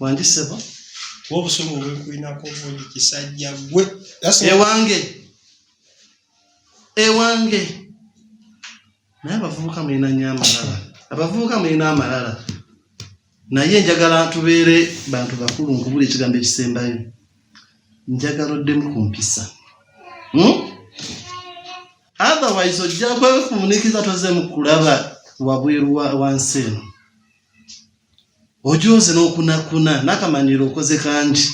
Wange sebo kuba obusungu obwenkulinako bungi kisajja gwe ewange ewange naye abavubuka mulina nyo amalala abavubuka mulina amalala naye njagala ntubeere bantu bakulu nkubula ekigambo ekisembayo njagala oddemu ku mpisa hmm? otherwise ojja kwefumunikiza tozeemu kulaba wabweru wansi eno ojoze n'okunakuna n'akamanyiiro okoze kangi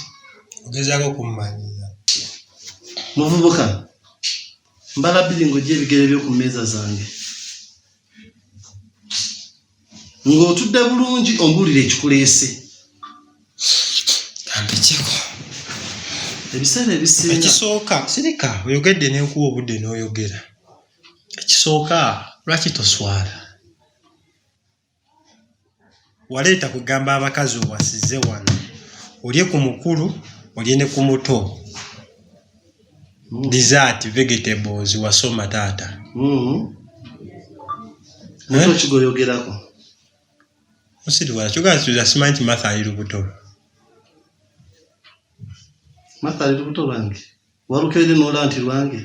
ogezaako okummanyiira muvubuka mbala bbiri ng'ojja ebigere byo ku mmeeza zange ng'otudde bulungi ombuulire ekikuleese kambikyeko ebiseera ebisinga ekisooka sirika oyogedde n'enkuwa obudde n'oyogera ekisooka lwaki toswala waleeta kugamba abakazi owasize wano olye ku mukulu olye ne ku muto mm. dessert vegetables wasoma taata mm-hmm. eh? kigoyogerako osiriwala kyogala tuza simanyi nti matha ali lubuto matha ali lubuto lwange walukeire nola nti lwange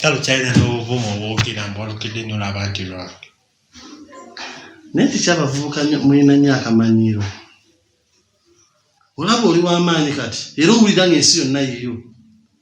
kale kyalina n'obuvumu obwogera mbu walukidde nnyo laba nti lwange naye tekyabavubuka mulina nnyo akamanyiiro olaba oli w'amaanyi kati era owulira ng'ensi yonna yiyo